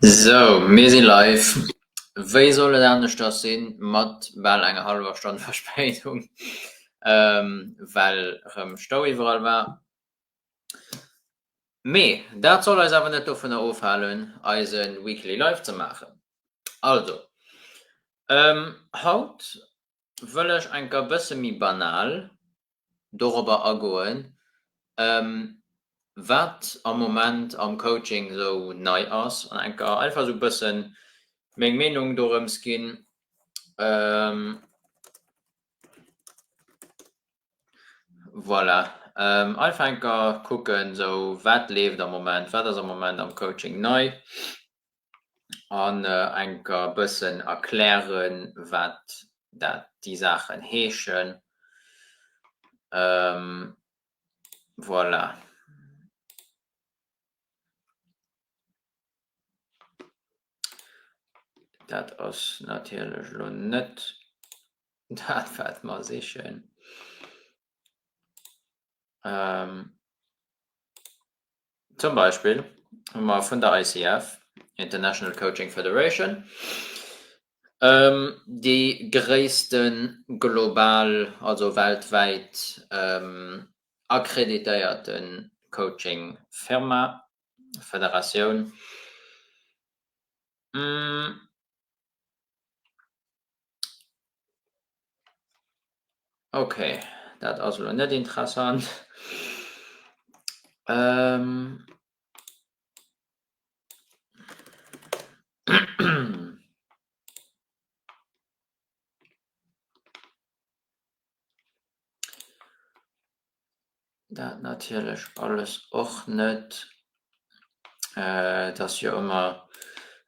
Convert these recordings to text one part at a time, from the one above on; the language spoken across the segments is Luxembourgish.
Sou, mir si live. Wéi soll et aneschters sinn, mat bal enger hallwer Stonn Verspéidung, well erëm Stau iwwerall war. Mee dat soll eis awer net dovunner ofhalen eise Weekly Live ze maachen. Also haut wëll ech enker e bësse méi banal dorobber agoen, wat am Moment am Coaching esou nei ass an enker einfach esou e bësse meng Meenung dorëms ginn. Voilà, Alfänker kucken sou wat leeft am Moment, wat ass am Moment am Coaching nei an enker bëssen erklären, wat dat déi Saachen heeschen. Voilà. Dat ass natierlech elo net. Dat wat mer sichen. Zum Beispill hu mer vun der ICF, International Coaching Federation, déi gréisste global, also weltwäit akkreditéierte Coaching Firma, Federatioun, Ok, dat ass elo net interessant. Dat natierlech alles och net. Et ass jo ëmmer,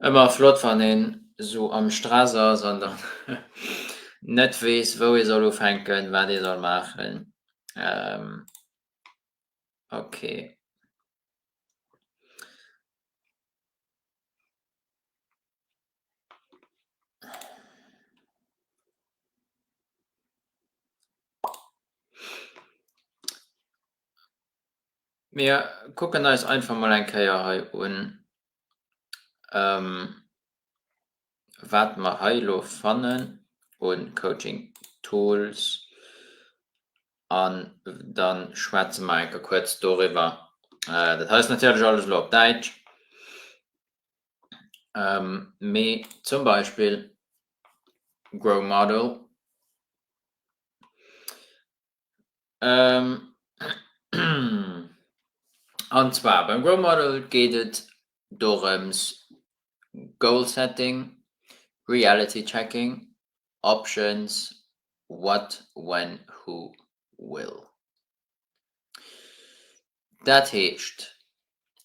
ëmmer flott, wann een esou am Stress ass an dann net weess, wou ee soll ufänken, wat ee soll maachen. Ok. Mir kucken eis einfach mol eng Kéier hei un, wat mer hei elo fannen u Coaching Tools an da schwätze mer eng Kéier kuerz doriwwer. Dat hei ass natierlech elo alles op Däitsch. mee zum Beispill Grow Model an zwar beim Grow Model geet et dorëms Goal Setting, Reality Checking, Options, What, When, Who, Will. Dat heescht,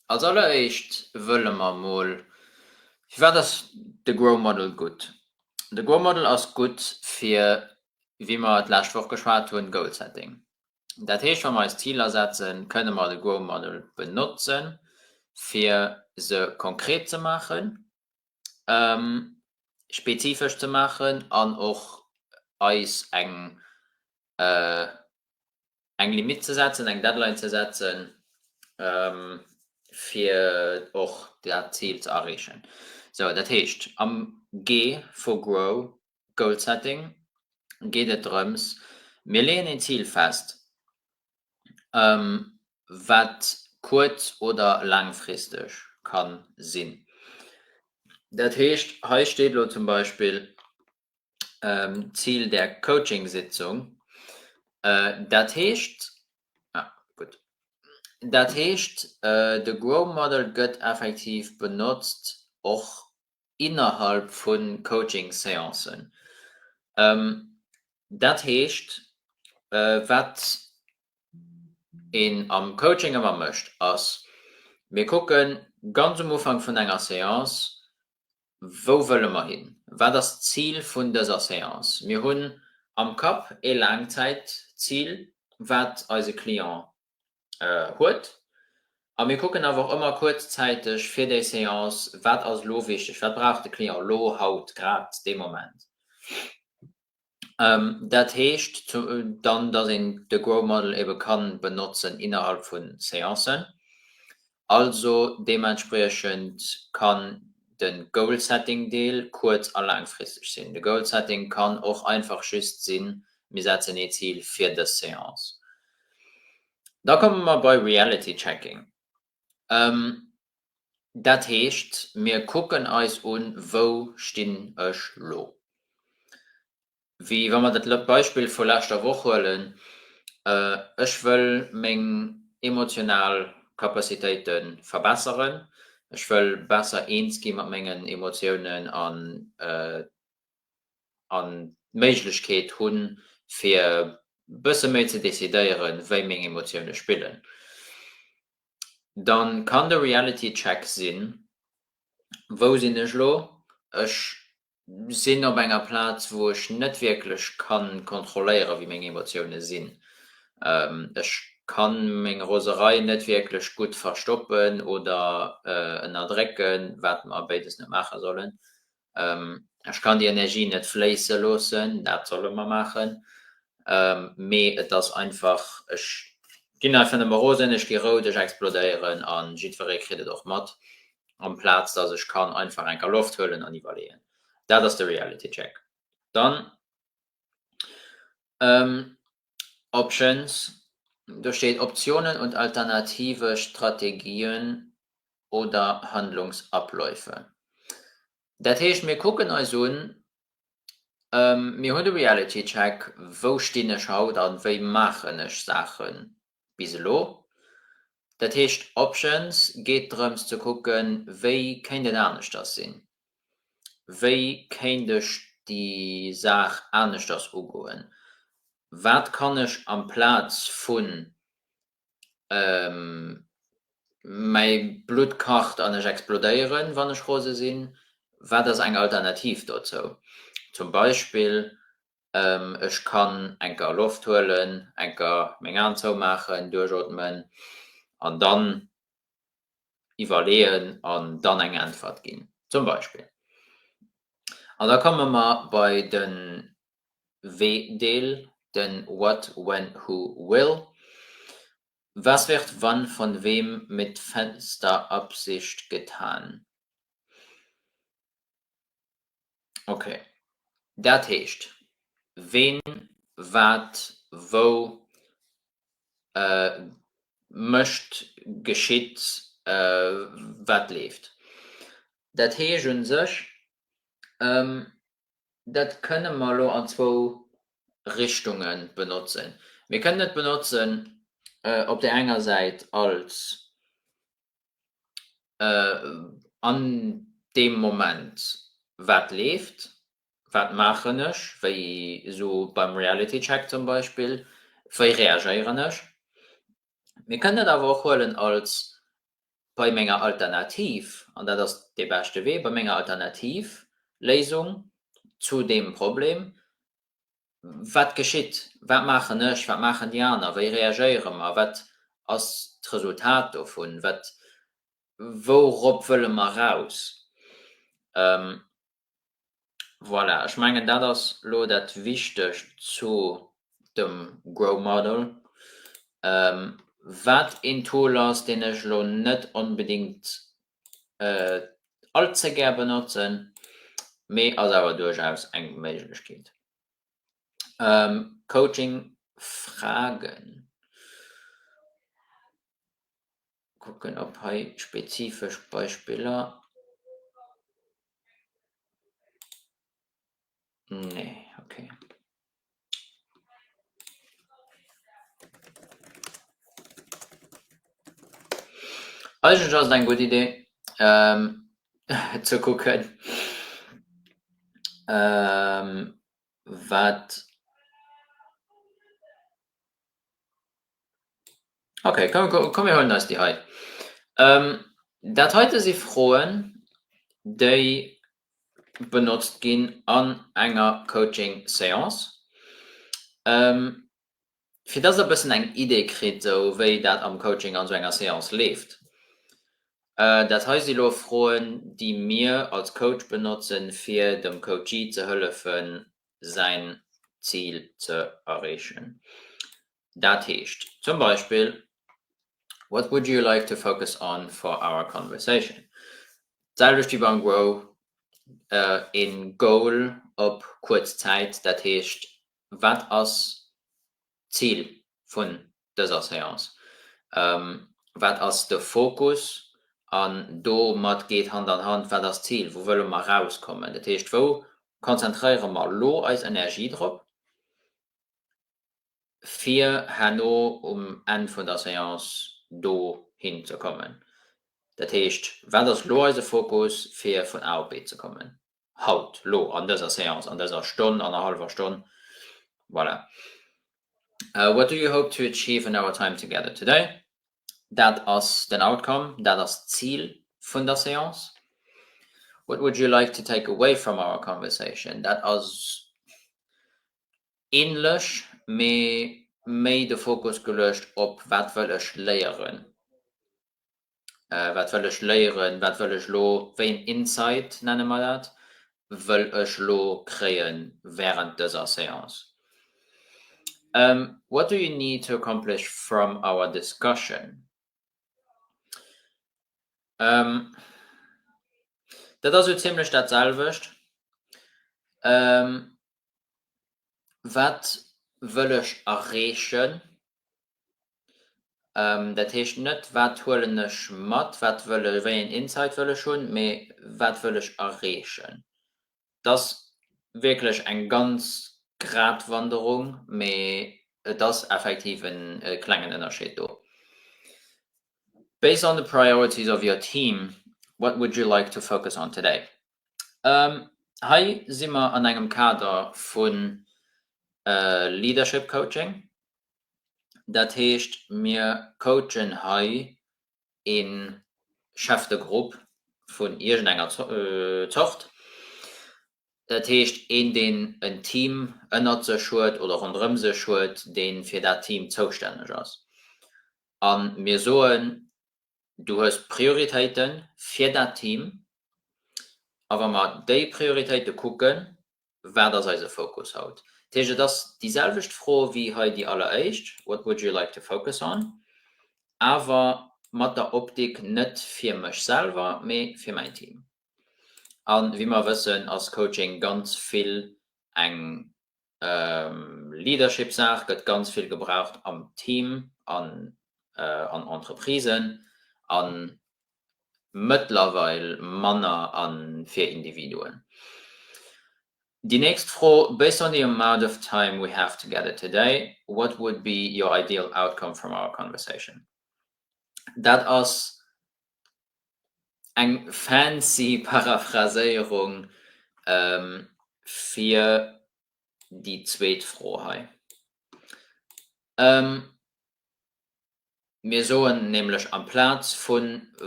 als alleréischt wëlle mer emol, firwat ass de Grow Model gutt? De Grow Model ass gutt fir, wéi mer et d'lescht Woch geschwat hunn, Goal Setting. Dat heescht, wa mer eis Ziler setzen, kënne mer de Grow Model benotzen, fir se konkret ze maachen, spezifesch ze maachen an och eis eng eng Limitt ze setzen, eng Deadline ze setzen, fir och dat Zil ze erreechen. Sou, dat heescht, am G vu Grow, Goal Setting, geet et drëms, mir leeën een Zil fest, wat kuerz oder laangfristeg ka sinn. Dat heescht, hei steet elo zum Beispill, ähm, Ziel der Coaching-Sitzung. Äh, dat heescht, ah, gut. Dat heescht, äh, de Grow Model gëtt effektiv benotzt och innerhalb vun Coaching-Séancen. Ähm, dat heescht, äh, wat een am Coaching ëmmer mécht ass, mir kucken ganz um Ufank vun enger Séance, Wou wëlle mer hin? Wat ass d'Zil vun dëser Séance? Mir hunn am Kapp ee Laangzäitzil, wat eise Client huet. A mir kucken awer och ëmmer kuerzzäiteg fir déi Séance, wat ass elo wichteg, wat brauch de Client elo, haut, grad dee Moment. Dat heescht dann, dass een de Grow Model ebe ka benotzen innerhalb vu Seancen. Also deementspriechend kann de Goal-Setting Deel kuerz a laangfristeg sinn. De Goal-Setting kann och einfach just sinn, mir setzen ee Zil fir dës Seance. Da komme mer bei Reality Checking. Dat heescht, mir kucken eis un, Wou stinn ech elo? Wéi wa mer dat Beispill vu leschter Woch huelen, Ech wëll meng emotional Capacitéite verbesseren, ech wëll besser eens gi mat mengen Emotiounen an an d'Méiglechkeet hunn, fir e bësse méi ze decidéieren, wéi meng Emotioune spillen, da kann de Reality Check sinn, Wou sinn ech elo? Ech sinn op enger Plaz, wou ech net wierklech ka kontrolléieren, wéi meng Emotioune sinn. Ech ka meng Roserei net wierklech gutt verstoppen oder ënnerdrécken, wat mer béides net maache sollen. Ech kann déi Energie net fléisse loossen, dat solle mer maachen, mee et ass einfach, ech ginn einfach nëmme rosen, ech gi rout, ech explodéieren a jiddweree kritt et och mat, amplaz datt ech kann einfach enker Loft huelen an iwwerleeën. Dat ass de Reality Check. Dann. Options, Do steet Optionen und alternative Strategien oder Handlungsabläufe. Dat heescht, mir kucken eis un, mir hunn de Reality Check, wou stinn ech haut a wéi maachen ech Saachen bis elo. Dat heescht, Options geet drëms ze kucken, wéi kéint et aneschters sinn, wéi kéint ech déi Saach aneschters ugoen, wat kann ech amplaz vu mäi Blutt kacht an ech explodéieren, wann ech rose sinn, wat ass eng Alternativ dozou? Zum Beispill Ech kann enker Loft huelen, enker meng Aen zoumaachen, duerchootmen an dann iwwerleeën an dann eng Äntwert ginn, zum Beispill. An da komme mer bei de Wee-Deel, de What, When, Who, Will, Was wird wann von wem mit fester Absicht getan? Okay. Dat heescht, ween, wat, wou, mécht, geschitt, wat leeft. Dat heescht un sech, dat kënne mer elo an zwou Richtunge benotzen. Mir kënnen et benotzen op där enger Säit als an deem Moment, wat leeft, wat maachen ech, wéi esou beim Reality Check zum Beispill, wéi reagéieren ech. Mir kënnen dat awer och huelen als, bei menger Alternativ, an dat ass dee beschte Wee, bei menger Alternativléisung zu deem Problem, wat geschitt, wat maachen ech, wat maachen déi aner, wéi reagéiere mer, wat ass d'Resultat dovun, wat, wourop wëlle mer raus. Voilà, ech mengen dat ass elo dat Wichtegt zu dem Grow Model. Wat een Tool ass, deen ech elo net onbedéngt all ze gär benotzen, mee ass awer duerchaus eng Méiglechkeet. Coaching Fragen kucken ob hei spezifesch Beispiller. Nee, okay. Eigentlech ass et eng gutt Idee ähm ze kucken ähm wat. Okay, komm, komm, komm mir huelen eis déi hei. Ähm, dat heite si Froen, déi benotzt ginn an enger Coaching-Seance, ähm, fir dass Der e bëssen eng Idee kritt, esou wéi dat am Coaching an esou enger Seance leeft. Äh, dat hei si lo Froen, déi mir als Coach benotzen, fir dem Coachee ze hëllefen, säin Zil ze erreechen. Dat heescht zum Beispill, What would you like to focus on for our conversation? D'selwecht wéi beim Grow, e Goal op kuerz Zäit, dat heescht, wat ass d'Zil vun dëser Seance, wat ass de Fokus an domat geet Hand an Hand, wat ass d'Zil, wou wëlle mer erauskommen. Dat heescht, wou konzentréiere mer elo eis Energie drop, fir herno um Enn vun der Seance dohin ze kommen. Dat heescht, wat ass elo eise Fokus, fir vun A op B ze kommen. haut, lo, an dëser Séance, an dëser Stonn, annerhallwer Stonn, voilà. What do you hope to achieve in our time together today? Dat ass den Outcome, dat ass d'Zil vun der Séance. What would you like to take away from our conversation? Dat ass ähnlech, mee méi de Fokus geluecht op wat wëll ech léieren wat wëll ech léieren, wat wëll ech elo, wéi en Insight nenne mer dat, wëll ech elo kréie während dëser Séance? What do you need to accomplish from our discussion? Dat ass sou zimlech dat selwecht, wat wëll ech erreechen? Dat heescht net, wat huelen ech mat, wat wëll ech, wéi een Insight wëll ech hunn, mee wat wëll ech erreechen. Et ass wierklech eng ganz Gratwanderung, mee et ass effektiv e klengen Ënnerscheed do. Based on the priorities of your team, what would you like to focus on today? Hei si mer an engem Kader vu Leadership Coaching, Dat heescht, mir coachen hei e Chef de groupe vun iergendenger Zort, dat heescht een, deen en Team ënnert sech huet oder ronderëm sech huet, dee fir dat Team zoustänneg ass. A mir soen, du hues Prioritéite fir dat Team a wa mer déi Prioritéite kucken, wat ass eise Fokus haut? Dat heescht, et ass déi selwecht Fro wéi hei déi alleréischt, What would you like to focus on? awer mat der Optik net fir mech selwer, mee fir mäin Team. A wéi mer wëssen, ass Coaching ganz vill eng Leadership-Saach gëtt ganz vill gebraucht am Team an an Entreprisen a mëttlerweil manner a fir Individuen. Déi nächst Fro, Based on the amount of time we have together today, what would be your ideal outcome from our conversation? Dat ass eng fancy Paraphraséierung fir déi zweet Fro hei. Mir soen nämlech amplaz vu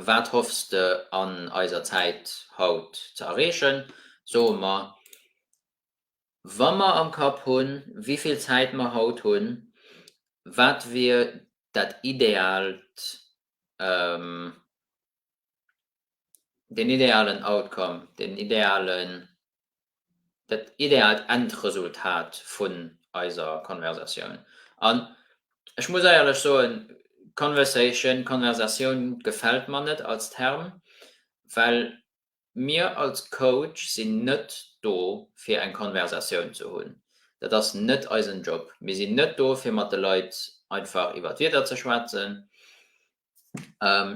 Wat hoffs de an eiser Zäit haut ze erreechen? soe mer, Wa mer am Kapp hunn, wéi vill Zäit mer haut hunn, wat wier dat ideaalt den idealen Outcome, den idealen, dat ideaalt Endresultat vun eiser Konversatioun. An ech muss eierlech soen, Conversation, Konversatioun gefält mer net als Term, well Mir als Coach sinn net do fir eng Konversatioun ze hunn. Dat ass net eisen Job. Mir sinn net do fir mat de Leit einfach iwwer d'Wieder ze schwätzen.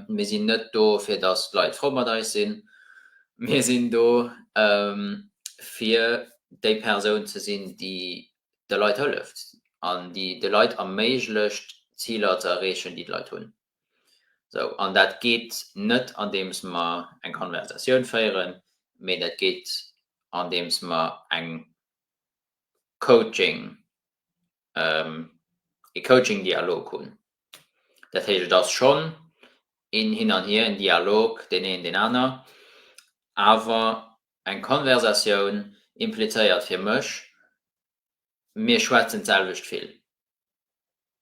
Mir sinn net do fir datt d'Leit frou mat eis sinn. Mir sinn do fir déi Persoun ze sinn déi de Leit hëlleft an déi de Leit erméiglecht d'Ziler ze erreechen déi d'Leit hunn. Sou, an dat geet net andeems mer eng Konversatioun féieren, mee dat geet andeems mer eng Coaching, ee Coaching-Dialog hunn. Dat heescht, et ass schonn een Hin an Hier, en Dialog, deen een, deen aner, awer eng Konversatioun implizéiert fir mech, mir schwätzen d'selwecht vill.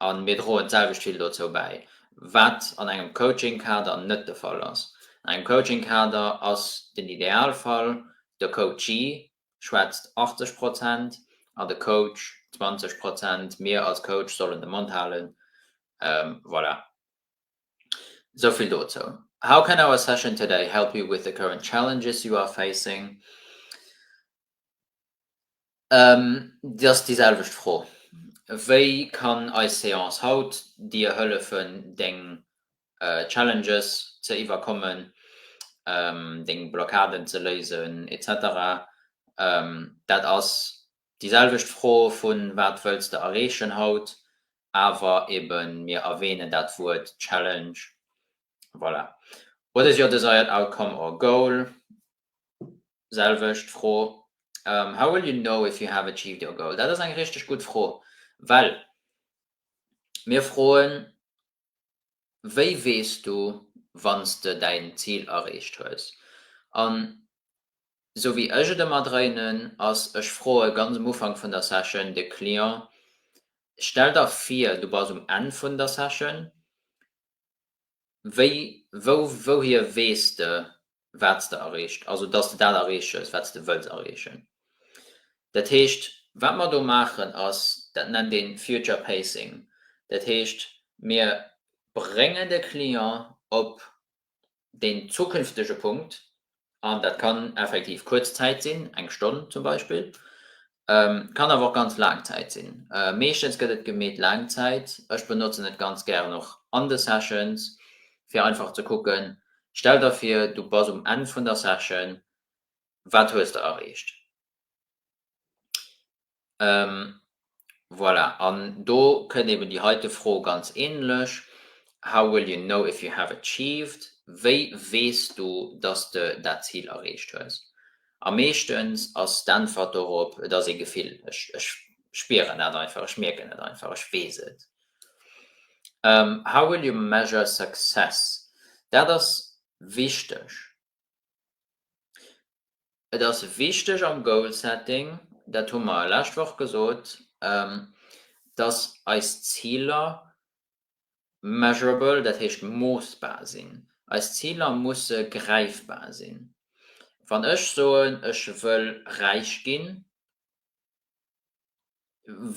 a mir droen d'selwecht vill dozou bäi, wat an engem Coaching-Kader net de Fall ass. An engem Coaching-Kader ass den Idealfall, de Coachee schwätzt 80 Prozent an de Coach 20 Prozent, mir als Coach sollen de Mond halen. Voilà, esou vill dozou. How can our session today help you with the current challenges you are facing? Dat ass déi selwecht Fro. Wéi kann eis Seance haut dir hëllefen, deng Challenges ze iwwerkommen, deng Blockaden ze léisen, etc. Dat ass déi selwecht Fro vu wat wëlls de erreechen haut, awer eben mir erwähnen dat Wuert Challenge. Voilà. What is your desired outcome or goal? selwecht Fro, How will you know if you have achieved your goal? Dat ass eng richteg gutt Fro, well mir froen, Wéi weess du, wann s de däin Zil erreecht hues? An esou wéi ech et ëmmer dréinen, ass, ech froe ganz um Ufank vun der Session de Client, Stell der vir, du bass um Enn vun der Session wéi, wou, wouhier weess de wat s de erreecht, also datt s de dat erreeches wat s de wëlls erreechen. Dat heescht, wat mer do maachen ass, dat nennt ee future pacing, dat heescht mir bréngen de Client op deen zukünftege Punkt, an dat kann effektiv kuerz Zäit sinn, eng Stonn zum Beispill, kann awer och ganz laang Zäit sinn. Meeschtens gëtt et gemeet laang Zäit. Ech benotzen et ganz gären och an de Sessions, fir einfach ze kucken, stell der vir, du bass um Enn vun der Session, wat hues de erreecht? Ähm, voilà. An do kënnt eben déi heite Fro ganz ähnlech, How will you know if you have achieved? Wéi weess du, dass de dat Zil erreecht hues? A meeschtens ass d'Äntwert dorop, Et ass e Gefill, ech spieren dat einfach, ech mierken et einfach, ech weess et. Ähm, How will you measure success? Dat ass wichteg. Et ass wichteg am Goal Setting, dat hu mer lescht Woch gesot, dass eis Ziler measurable, dat heescht moossbar sinn. Eis Ziler musse gräifbar sinn. Wann ech soen, ech wëll räich ginn,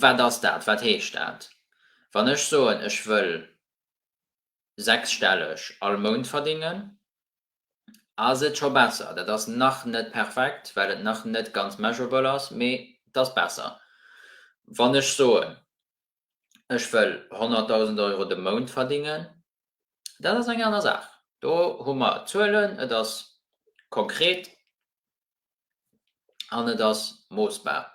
wat ass dat, wat heescht dat? Wann ech soen, ech wëll sechsstelleg all Mount verdingen, ass et scho besser. Dat ass nach net perfekt, well et nach net ganz measurable ass, mee et ass besser. Wann ech soen, ech wëll 100.000 Euro de Mount verdingen, dat ass eng aner Saach. Do hu mer Zuelen, et ass konkret. An et ass moossbar.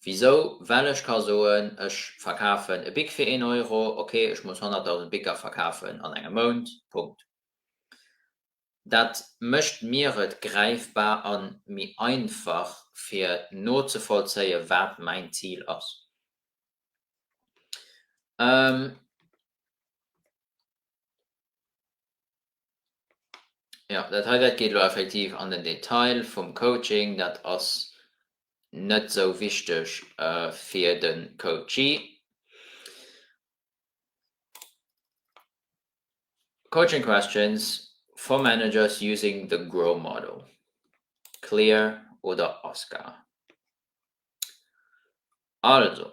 Wisou? Well ech ka soen, ech verkafen e Bic fir een Euro, ok, ech muss 100.000 Bicer verkafen an engem Mount, Punkt. Dat mécht mir et gräifbar a méi einfach, fir nozevollzéien, wat mäin Zil ass. Jo, dat hei, dat geet elo effektiv an den Detail vum Coaching. Dat ass net sou wichteg fir de Coachee. Coaching questions for managers using the grow model, clear oder oscar? Also,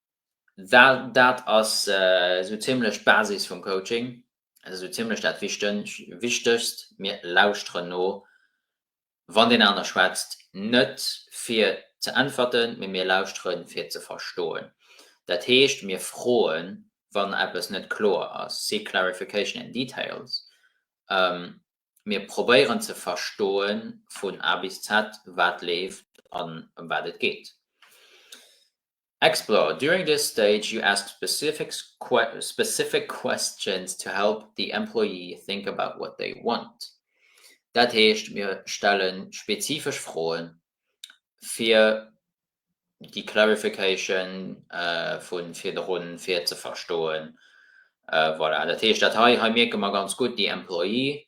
well dat ass esou zimmlech d'Basis vum Coaching, dat ass esou zimmlech dat Wichtegst, mir lauschteren no, wann deen aner schwätzt, net fir ze äntwerten, mee mir lauschteren, fir ze verstoen. Dat heescht, mir froen, wann eppes net kloer ass, seek clarification in details, mir probéieren ze verstoe vun A bis Z, wat leeft an ëm wat et geet. Explore, During this stage you ask specific questions to help the employee think about what they want. Dat heescht, mir stelle spezifesch Froen, fir déi Clarification vu virdru fir ze verstoen. Voilà, dat heescht, dat hei mierke mer ganz gutt, déi Employee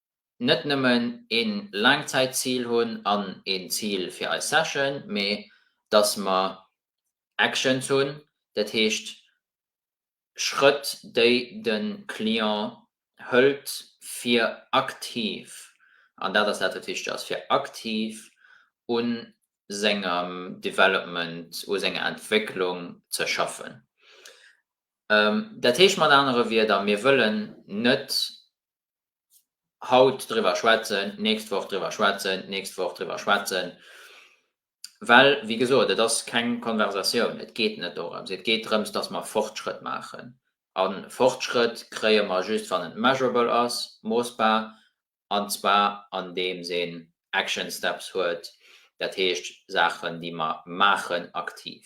net nëmmen een Laangzäitzil hunn an een Zil fir eis Session, mee dass mer Actions hunn, dat heescht Schrëtt déi de Client hëlt fir aktiv, an dat ass dat wat wichteg ass, fir aktiv u sengem Development, u senger Entwécklung ze schaffen. Dat heescht mat anere Wierder, mir wëllen net haut driwwer schwätzen, d'nächst Woch driwwer schwätzen, d'nächst Woch driwwer schwätzen, well, wéi gesot, et ass keng Konversatioun. Et geet net dorëms. Et geet drëms, dass mer Fortschrëtt maachen. A Fortschrëtt kréie mer just, wann et measurable ass, moossbar, an zwar andeems een action steps huet, dat heescht Saachen, déi mer maachen, aktiv.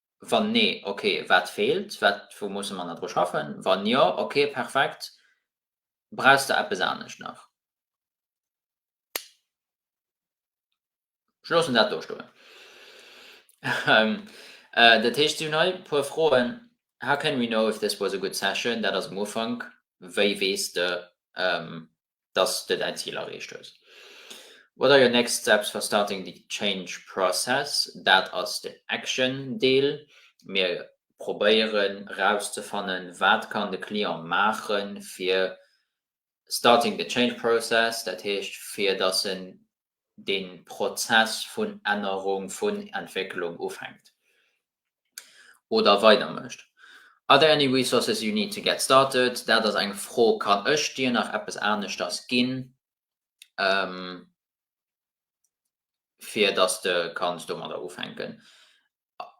Wann nee, ok, wat feelt, wat, wou musse mer nach dru schaffen? Wann jo, ok, perfekt, brauchs de eppes anescht nach? Ech loossen dat do stoen. Dat heescht, si hunn hei e puer Froen, How can we know if this was a good session? Dat ass um Ufank, wéi weess de, dass de däin Zil erreecht hues. What are your next steps for starting the change process? Dat ass den Action-Deel. Mir probéieren erauszefannen, wat kann de Client maachen, fir starting the change process, dat heescht, fir dass en de Prozess vun Ännerung, vun Entwécklung ufänkt oder weider mécht. Are there any resources you need to get started? Dat ass eng Fro, Kann ech dir nach eppes aneschters ginn, fir dass de kanns domadder ufänken?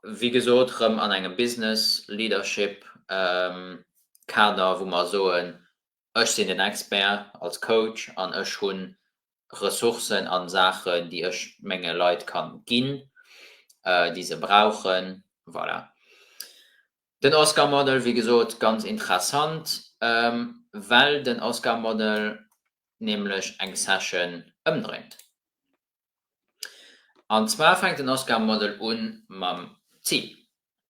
Wéi gesot, erëm an engem Business Leadership Kader, wou mer soen, Ech sinn den Expert als Coach an ech hu Ressourcen a Saachen, déi ech menge Leit ka ginn, déi se brauchen. Voilà. Den Oscar Model, wéi gesot, ganz interessant, well den Oscar Model nämlech eng Session ëmdréint. An zwar fänkt den Oscar Model un mam Zil.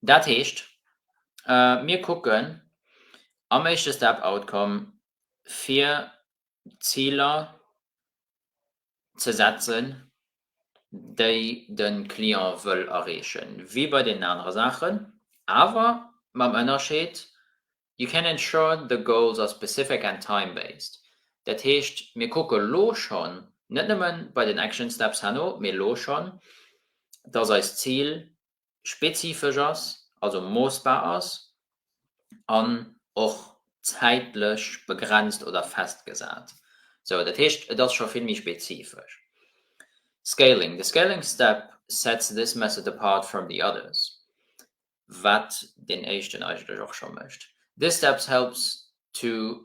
Dat heescht, mir kucken am éischte Step, Outcome, fir Ziler ze setzen, déi de Client wëll erreechen, wéi bei deenen anere Saachen, awer mam Ënnerscheed, You can ensure the goals are specific and time-based. Dat heescht, mir kucke elo schonn, net nëmme bei den Action Steps herno, mee elo schonn, dass eis Zil spezifesch ass, also moossbar ass an och zäitlech begrenzt oder festgesat. Sou, dat heescht, et ass scho vill méi spezifesch. Scaling, the scaling step sets this method apart from the others, wat deen éischten eigentlech och scho mécht. This steps helps to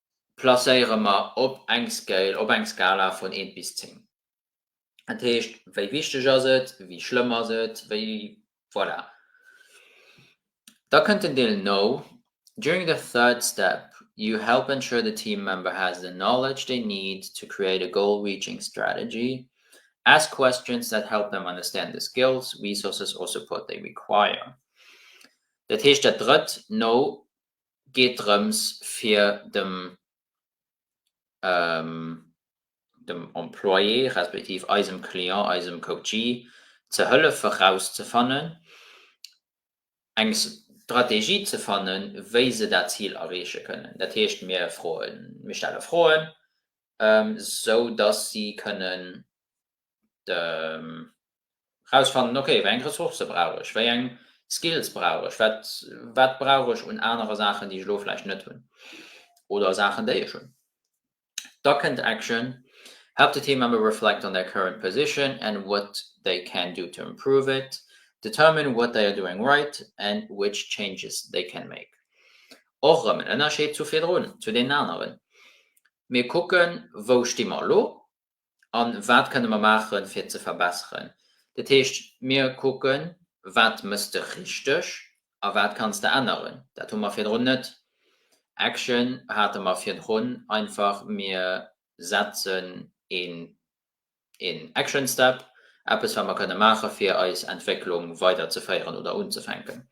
placéiere mer op eng Scale, op eng Skala vun eent bis zéng. Dat heescht, wéi wichteg ass et, wéi schlëmm ass et, wéi, voilà. Da kënnt den Deel No. During the third step, you help ensure the team member has the knowledge they need to create a goal-reaching strategy. Ask questions that help them understand the skills, resources or support they require. Dat heescht, dat drëtt No geet drëms fir dem dem Employé respektiv eisem Client, eisem Coachee ze hëllefe rauszefannen, eng Strategie ze fannen, wéi se dat Zil erreeche kënnen. Dat heescht, mir froen, mir stelle Froen, sou dass si kënnen erausfannen, okay, wéi eng Ressourcë brauch ech, wéi eng Skills brauch ech, wat brauch ech un anere Saachen, déi ech elo vläicht net hunn, oder Saachen, déi ech hunn. Da kënnt Action, Help the team member reflect on their current position and what they can do to improve it. Determine what they are doing right and which changes they can make. Och erëm en Ënnerscheed zu virdrun, zu deenen aneren. Mir kucken, wou sti mer elo? an wat kënne mer maachen, fir ze verbesseren. Dat heescht, mir kucken, wat mëss de richteg a wat kanns de änneren. Dat hu mer virdrun net. Action hate mer virdrun einfach, mir setzen een Action Step, eppes, wat mer kënne maachen, fir eis Entwécklung weiderzeféieren oder unzefänken.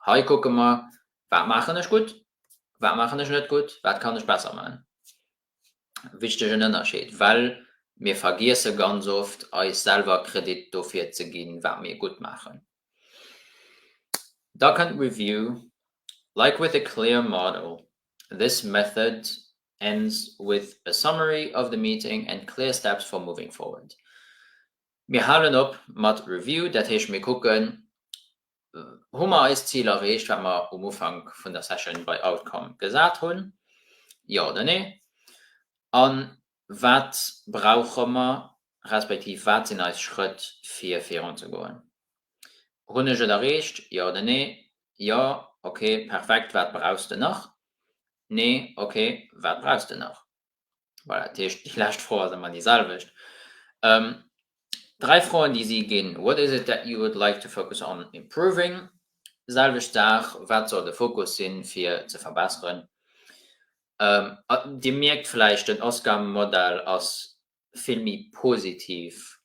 Hei kucke mer, wat maachen ech gutt, wat maachen ech net gutt, wat kann ech besser maachen. wichtegen Ënnerscheed, well mir vergiesse ganz oft, eis selwer Kredit dofir ze ginn, wat mir gutt maachen. Da kënnt d'Review, Like with a clear model, this method ends with a summary of the meeting and clear steps for moving forward. Mir halen op mat Review, dat heescht, mir kucken, hu mer eist Zil erreecht, wat mer um Ufank vun der Session bei Outcome gesat hunn? Jo oder nee? A wat brauche mer, respektiv wat sinn eis Schrëtt, fir virunzegoen? Hunn ech et erreecht? Jo oder nee? Jo, okay, perfekt, wat brauchs de nach? Nee, okay, wat brauchs de nach? Voilà, déi lescht Fro ass ëmmer déi selwecht. Dräi Froen, déi si ginn, What is it that you would like to focus on improving? Selwecht Saach, Wat soll de Fokus sinn, fir ze verbesseren? Dir mierkt vläicht, den Oscar-Modell ass vill méi positiv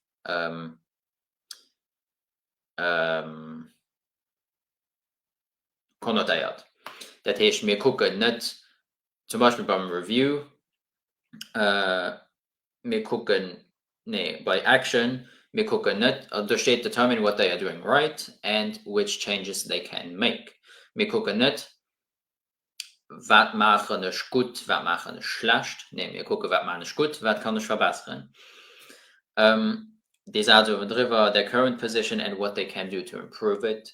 konnotéiert. Dat heescht, mir kucken net, zum Beispill beim Review, mir kucken, nee bei Action, mir kucken net, do steet determine what they are doing right and which changes they can make, mir kucken net wat maachen ech gutt, wat maachen ech schlecht, nee mir kucken wat maachen ech gutt, wat kann ech verbesseren. Dee Saz uewendriwwer, their current position and what they can do to improve it.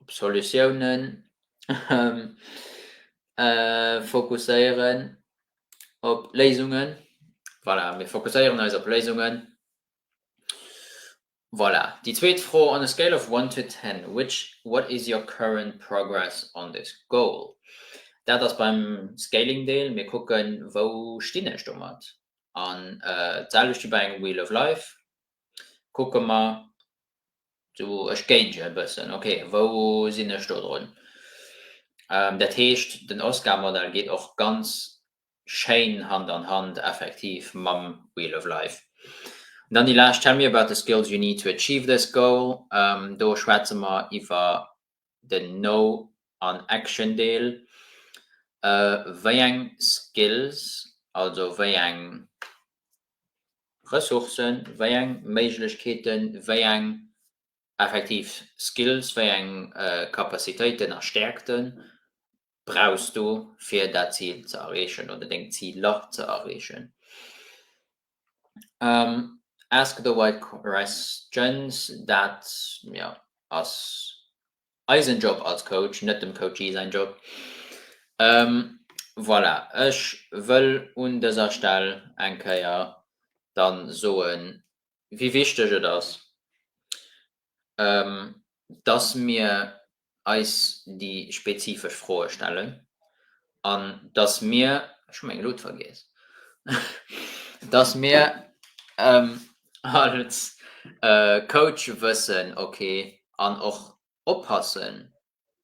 op Solutiounen fokusséieren, op Léisungen. Voilà, mir fokusséieren eis op Léisungen. Voilà, déi zweet Fro, On a scale of one to ten, which, what is your current progress on this goal? Dat ass beim Scaling Deel, mir kucken, wou stinn ech domat? An d'selwecht wéi bei engem Wheel of Life, Kucke mer do, ech géinge e bëssen, ok, wou sinn ech do drun? Dat heescht, den Oscar-Modell geet och ganz schéin Hand an Hand effektiv mam Wheel of Life. An dann déi lescht, Tell me about the skills you need to achieve this goal. Do schwätze mer iwwer den No an Action Deel, wéi eng Skills, also wéi eng Ressourcen, wéi eng Méiglechkeeten, wéi eng effektiv Skills, wéi eng Capacitéiten a Stäerkten brauchs du fir dat Zil ze erreechen oder deng Ziler ze erreechen. Ask the right questions, dat jo ass eisen Job als Coach, net dem Coachee säin Job. Voilà, ech wëll un dëser Stell eng Kéier dann soen, wéi wichteg et ass, dass mir eis déi spezifesch Froe stellen an dass mir, ech hu meng Luut vergiess, dass mir als Coach wëssen, okay, an och oppassen,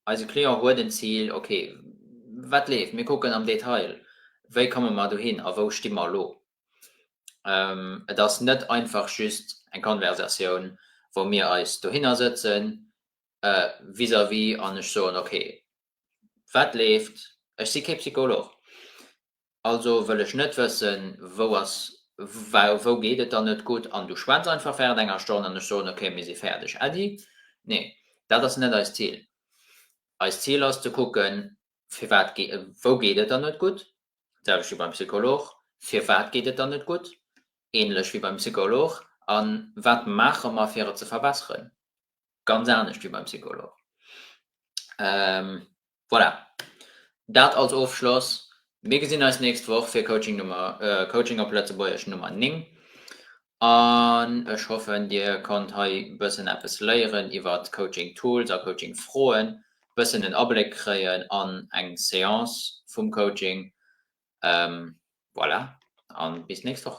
eise Client huet en Zil, okay, wat leeft, mir kucken am Detail, wéi komme mer dohin a wou sti mer elo. Et ass net einfach just eng Konversatioun, wou mir eis dohinner sëtzen, vis-à-vis an ech soen, ok, wat leeft? Ech si kee Psycholog, also wëll ech net wëssen, wou ass, wou geet et der net gutt? An du schwätz einfach während enger Stonn an ech soen, ok, mir si fäerdeg. Äddi, Nee, dat ass net eist Zil. Eist Zil ass ze kucken, firwat, wou geet et der net gutt? D'selwecht wéi beim Psycholog. Firwat geet et der net gutt? Ähnlech wéi beim Psycholog. A wat maache mer, fir et ze verbesseren? ganz anescht wéi beim Psycholog. Voilà, dat als Ofschloss. Mir gesinn eis d'nächst Woch fir Coaching Nummer, Coaching op Lëtzebuergesch Nummer 9 an ech hoffen, Dir konnt hei e bëssen eppes léieren iwwer d'Coaching Tools a Coaching Froen, e bëssen en Abléck kréien an eng Seance vum Coaching. Voilà, a bis d'nächst Woch.